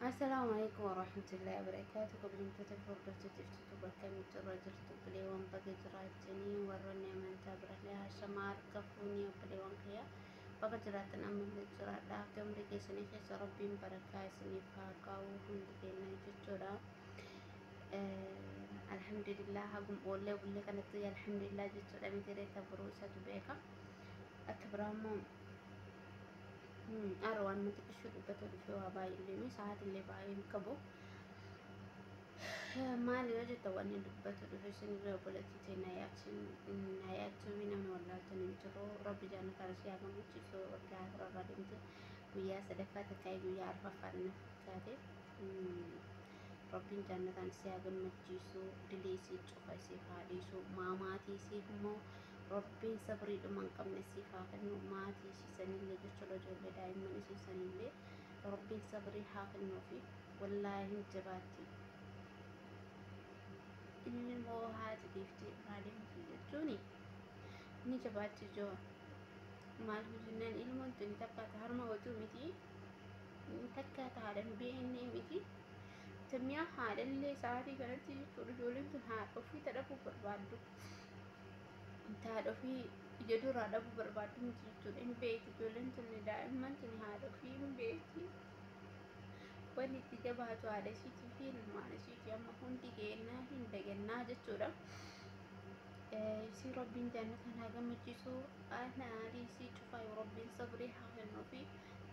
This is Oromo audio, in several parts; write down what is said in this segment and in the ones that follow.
Assalamu alaikum warahmatullahi wabarakatuh. Kabajamtoota fi hordoftoota jirtu bakka mitti irra jirtu bileewwan baga jiraachanii warroonni amantaa birallee haashama harka fuunii bileewwan kiyya baga jiraatan ammallee jiraadha. Akka umrii keessanii keessa rabbiin barakaa isiniif haa kaa'u hundi keenya jechuudha. Alhamdulillah hagum oollee bulle kanatti alhamdulillah jechuudha miti reetta boruu isatu beeka. Akka biraa immoo har'a waan mata qishuu dubbatee dhufee waa baay'ee illee miti sa'aatii illee baay'ee hin qabu. Maali yoo jetta wanni dubbatu dhufe isin illee obboleettii ta'e na yaadsin na yaadsuufi namni wallaaltan hin jiru rabbi jaanna kana si haa gammachiisu waggaa afur irraa deemte guyyaa sadaffaa takkaa guyyaa arfaffaa na fakkaate. Rabbiin jaannataan isii haa gammachiisu dilii isii cufa isiif haa dhiisu maa maatii isiif immoo Rabbiin sabrii dhuma hin qabne isiif haa kennu maatii isii sanillee jechuudha ijoollee daa'imman isii sanillee Rabbiin sabrii haa kennuufi wallaahi hin jabaatti inni immoo haati dhiiftee biraa deemti jechuuni ni jabaatti ijoo maaliif jennaan ilmoon tuni takka harma otuu miti takkaa taadhan beeknee miti. Tamiyaa haadhallee sa'aatii kanatti jechuudha ijoolleen tun haadha ofii ta dhabuu barbaaddu. Haadha ofii ija duraa dhabuu barbaaddu miti jechuudha hin beekti ijoolleen tun daa'imman tun haadha ofii hin beekti. Wanni itti jabaatu haadha isiitii fi ilmaan isiitii amma hundi keennaa hin dagannaa jechuudha. isii rabbiin jannatan haa gammachiisu ana aalii isii cufaa yoo rabbiin sabrii haa kennuufi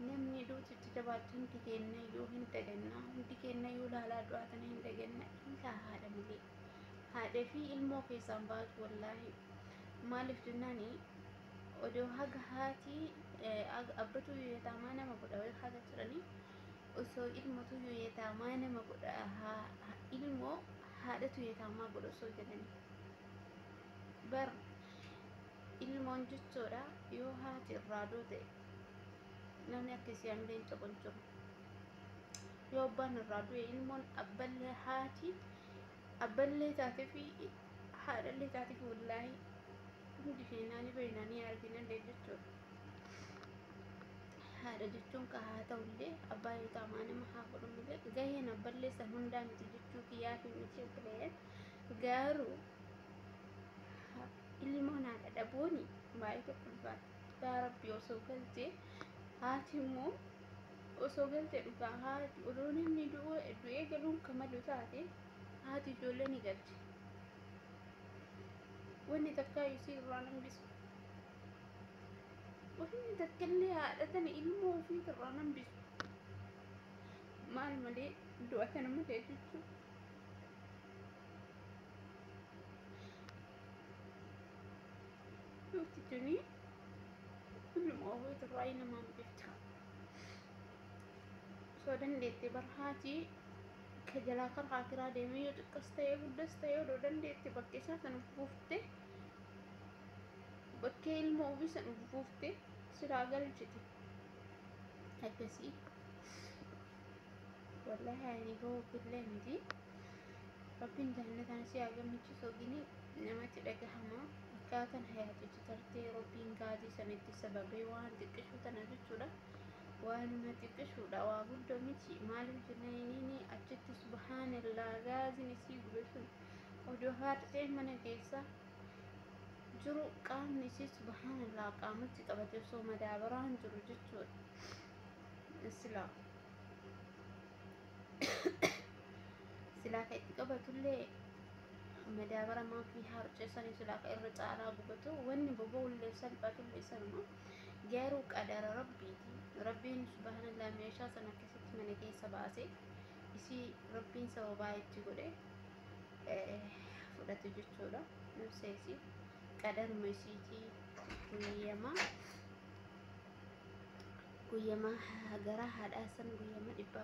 namni duutu itti jabaattu hundi keenya iyyuu hin daganna hundi keenya iyyuu laalaa du'aa tana hin daganna ilaa haadha malee haadha fi ilmoo keessaan baatu wallaahi maaliif jennaani odoo haga haati abbatu yetaamaa nama godha wayii haga jedhanii osoo ilmotu yetaamaa nama godha ilmoo haadhatu yetaamaa godha osoo jedhani bar ilmoon jechoodha yoo haati irraa duute namni akka isii hamilee hin qabu hin jiru yoo abbaan irraa du'e ilmoon abballee haati abballee taatee fi haadhallee taatee fi wallaahi hundi keenyaa ni beekna ni arginallee jechuudha Haadha jechuun ka haa ta'ullee abbaa yoo ta'u maa nama haa godhu malee gaheen abballee san hundaa miti jechuu kiyyaatiin miti obboleeyyan garuu ha- ilmoon haadha dhabuuni baay'ee tokko ulfaata yaa rabbi osoo galtee haati immoo osoo galtee dhugaa haati odoo namni du'uu du'ee galuun ka malu taate haati ijoollee ni galti wanni takkaa isii irraa hin hambisu Ofii takkillee haadha tana ilmoo ofii irraa nan bisu. Maal malee du'a tana malee jechuun. Duuti tuni ilmoo ofii irraa namaan biftu. Osoo dandeettee bara haatii ka jalaa kara haakiraa deemee yoo xiqqas ta'ee guddas ta'ee odoo dandeettee bakka isaa sana buuftee. bakkee ilmoo ofii san buuftee siraa galchite akkasii wallahi ani gowwofillee miti rabbiin jannatan si haa gammachiisu ogini namatti dhagahama akkaataan hayaatichi tartee rabbiin gaazii san itti sababee waan xiqqishu tana jechuudha waanuma xiqqishuudha waa guddo miti maaliif jennaan inni achitti subhaanallaa gaaziin isii gube sun odoo haartee mana keessaa jiru qaamni isii subhaanallah qaamatti qabate osoo madaabaraan jiru jechuudha silaa silaa ka itti qabatullee madaabara maafii harcesanii silaa ka irra caalaa gubatu wanni boba'ullee salphatullee sanuma garuu qadara rabbiiti rabbiin subhaanallah meeshaa san akkasitti mana keessa baase isii rabbiin sababaa itti godhe fudhate jechuudha. Ibsa isii qadaruma isiitii guyyama guyyama gara haadhaa san guyyama dhibba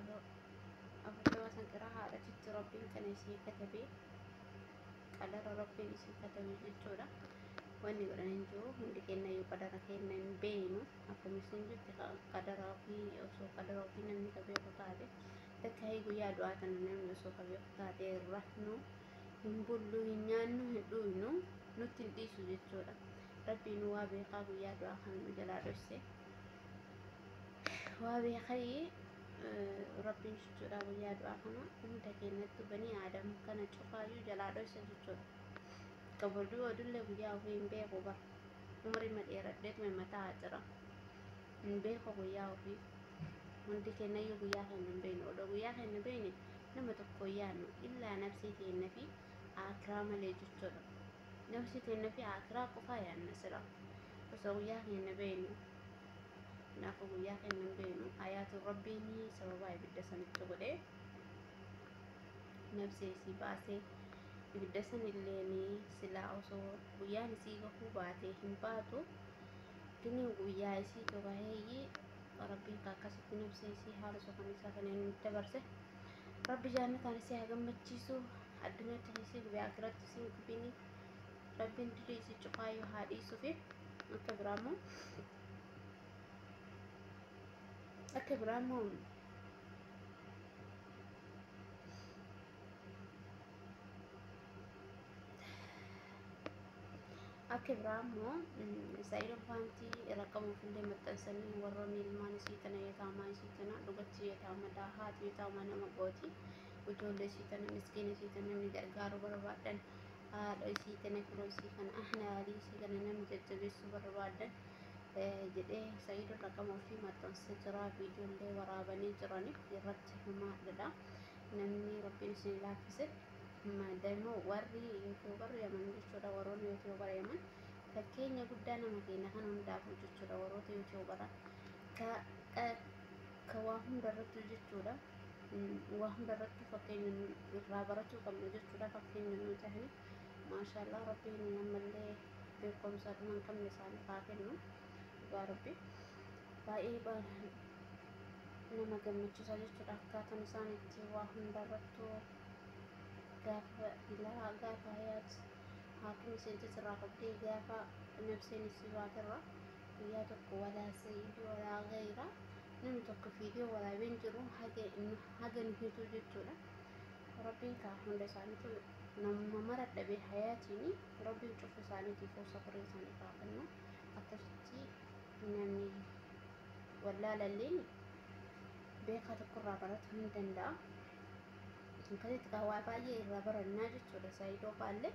afurtama san gara haadhatitti rabbiin kana isii katabee qadara rabbiin isii katabe jechuudha. Wanni godhan hin jiru hundi kenna yoo qadara kenna hin beeynu akkamisin jirti qadara ofii osoo qadara ofii namni ka beeku taate. Takkaayi guyyaa du'aa tana namni osoo ka beeku taatee hin rafnu, hin bullu, hin nyaannu, hin dhuuynu, nutti hin dhiisu jechuudha. Rabbiinu waa beekaa guyyaa du'aa kana nu jalaa dhoyse. Waa beekayi Rabbiin jechuudha guyyaa du'aa kana hunda keenyattu banii aadam kana cufaayyuu jalaa dhoyse jechuudha. Ka boduu odullee guyyaa ofii hin beeku bara. Umrii ma dheeradheetuma mataa jira. Hin beeku guyyaa ofii. Hundi keennayyuu guyyaa keenya hin beeknu. Odoo guyyaa keenya beekne nama tokko hin yaadnu. Illaa nafsii teenna fi aakiraa malee jechuudha. Nafsii teenna fi aakiraa qofaa yaadna sila. Osoo guyyaa keenya beeknu. Kanaafuu guyyaa keenya hin beeknu. Ayaatuun Rabbiin sababaa ibidda sanitti godhee nafsee isii baasee ibidda sanilleen silaa osoo guyyaan isii gahuu baatee hin baatu. Giniin guyyaa isii togaheeyyii Rabbi akka akkasitti nu ibsiisii haala suukanneessaa kana inni nutti dabarse. Rabbi jaannataan isii haa gammachiisu. Addunyaatti dhiisii gubee akiraatti isii hin gubini. Rabbiin dilii isii cufaayyuu haa dhiisuufi. Akka biraa immoo akka biraa immoo Akka biraa immoo Israa'el Obbaanti rakkama ofillee maxxansanii warroonni ilmaan isii tana yataamaa isii tana dhugatti yataamadha haati yataamaa nama gooti ijoollee isii tana miskiina isii tana namni gargaaru barbaaddan haadha isii tana kunoo isii kana ahnaalii isii kana namni jajjabeessuu barbaaddan jedhee Israa'el rakkama ofii maxxansa jira viidiyoollee waraabanii jirani irratti himaadha namni rabbiin isin laaffise. Madanu warri youtuber yaman jechuudha waroonni youtuber yaman fakkeenya guddaa nama keenya kan hundaafuu jechuudha warroota youtubera ka ka waa hundarrattuu jechuudha waa hundarrattuu fakkeenya irraa barachuu qabna jechuudha fakkeenya nu tahani maashaallah rabbiin ammallee beekumsa dhuma hin qabne isaaniif haa kennu dhugaa rabbi baay'ee nama gammachiisa jechuudha akkaataan isaan itti waa hundarrattuu gaafa ilaha gaafa hayaat haakimi seente sirraa qabdee gaafa nabseen isii baaterra guyyaa tokko walaa sa'iid walaa gayra namni tokko viidiyoo waraabeen jiru haga nu hituu jechuudha rabbiin kaa hunda isaaniitu namuma mara dhabe hayaatiin rabbiin cufu isaaniitiif sabrii isaanii kaa kennu akkasitti namni wallaalalleen beekaa tokkorraa baratu hin danda'a. akkasitti kaa waa baay'ee irraa barannaa jechuudha saayidoo faallee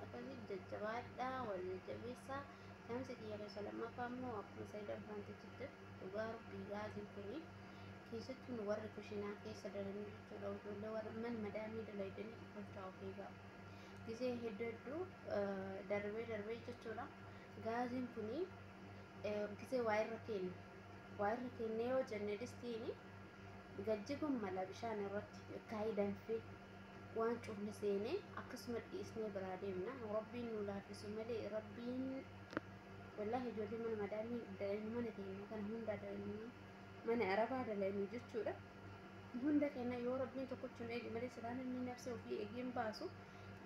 akkasitti jajjabaadhaa wal jajjabeessaa saamsi kiyya keessa lammaffaa immoo akkuma saayidoo faanti jirte dhugaa rabbii gaazii kuni keessattuu nu warri kushinaa keessa dalannu jechuudha ijoollee warra mana madaamii dalaydanii gochaa of eegaa gisee hedduu hedduu darbee darbee jechuudha gaaziin kuni gisee waa irra keenya Waa irra keennee yoo jenne distiin gad jiguun mala bishaan irratti kaayii danfee waan cufne seenee akkasuma dhiisnee biraa deemna. Rabbiin nu laafisu malee rabbiin wallaahi ijoollee mana madaamii dalaynu mana keenya kana hundaa dalaynu mana arabaa dalaynu jechuudha. Hunda keenya yoo rabbiin tokkochi nu eege malee silaa namni nabsee ofii eegee hin baasu.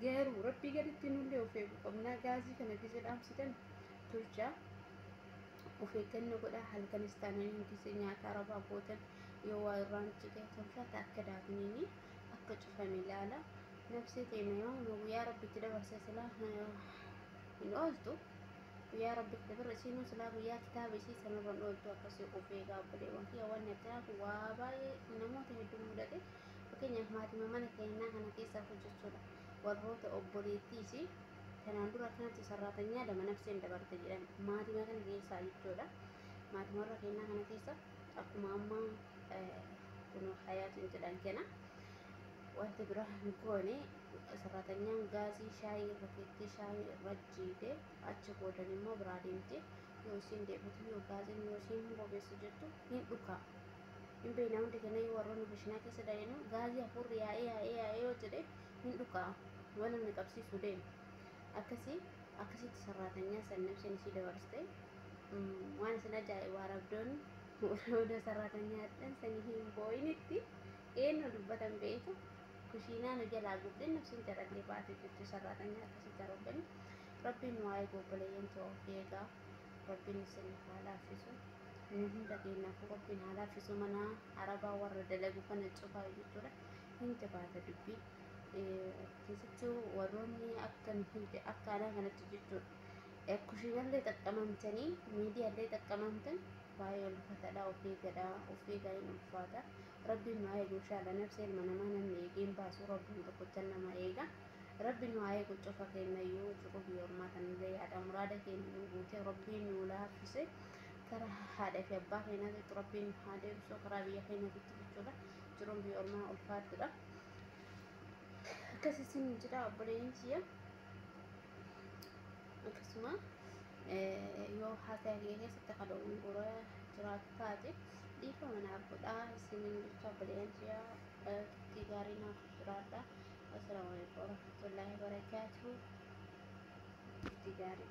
Garuu rabbii gaditti nullee of eeguu qabna. Gaazii kana gizee dhaamsitan tolchaa. Of eeggannoo godhaa, halkanis taanaan nutis nyaata arabaa gootan yoo waa irraan cite tolfata akka daafniin akka cufame ilaala. Nabsee teena yoo nu guyyaa rabbitti dabarse silaa hin ooltu. Guyyaa rabbitti dabarre isiinuu silaa guyyaa kitaaba isii sanirra hin ooltu akkasii of eegaa obboleewwan kiyya wanni akkanaa kun waa baay'ee namoota hedduu mudate. Fakkeenyaaf maatima mana keenyaa kana keessaa hojjechuudha. Warroota obboleettii isii Kanaan dura akkanatti sarraatanyaa lama nafseen dabarte jedhan maatima kana keessaa jechuudha. Maatima warra keenyaa kana keessa akkuma amma kun hayaatiin jedhan kana wanta biraa hin goone sarraatanyaan gaazii shaayii irra keettee shaayii irra jiite achi boodan immoo biraa deemte yoo isiin deebitu yoo gaaziin yoo isiin hin bobeessu jettu hin dhukaa. Hin beekna hundi keenya yoo warroonni bishinaa keessa dalaynu gaazii hafuurri yaa'ee yaa'ee yaa'ee yoo jedhe Hin dhuka'a. Waan inni qabsiisu deema. Akkasii akkasitti sarraatanyaa san nabseen isii dabarste. Waan isin ajaa'ibu Arabdoonni odoo sarraatanyaa hadhan sanii hin booyinitti eennoo dubbatan beeyta. Kushiinaa nu jalaa gubdee nabseen carallee baate jechuu sarraatanyaa akkasitti Arabdoonni. Rabbiin nu haa eegu obboleeyyan too of eegaa. Rabbiin isiniif haa laaffisu. Nu hunda keennaafuu Rabbiin haa laaffisu mana Arabaa warra dalagu kana cufaayyu jechuudha. Ni jabaata dubbii. Keessattuu warroonni akka nuti akka anaa kanatti jechuudha. Kushiinallee xaqqamamtanii miidiyaallee xaqqamamtan baay'ee ulfatadha of eegadha of eegaa hin ulfaata. Rabbiin nu haa eegu inshaalla nabsee ilma namaa namni eegee hin baasu rabbiin tokkocha nama eega. Rabbi nu haa eegu cufa keennayyuu cufa biyya ormaa tanallee yaada muraada keenya nu guutee rabbiin nu laaffise karaa haadha fi abbaa keenyaatitti rabbiin nu haa deebisu karaa biyya keenyaatitti jechuudha. jiruun biyya ormaa ulfaattuudha. Akkas isin jedha obboleeyyiin kiyya. Akkasuma yoo haasaya kiyya keessatti kan dogongora jiraatu taate dhiifama naaf godha isiniin jecha obboleeyyiin kiyya turtii gaarii naaf jiraadha. Assalaamu alaikum warahmatullaahi wabarakaatuhu. Turtii gaarii.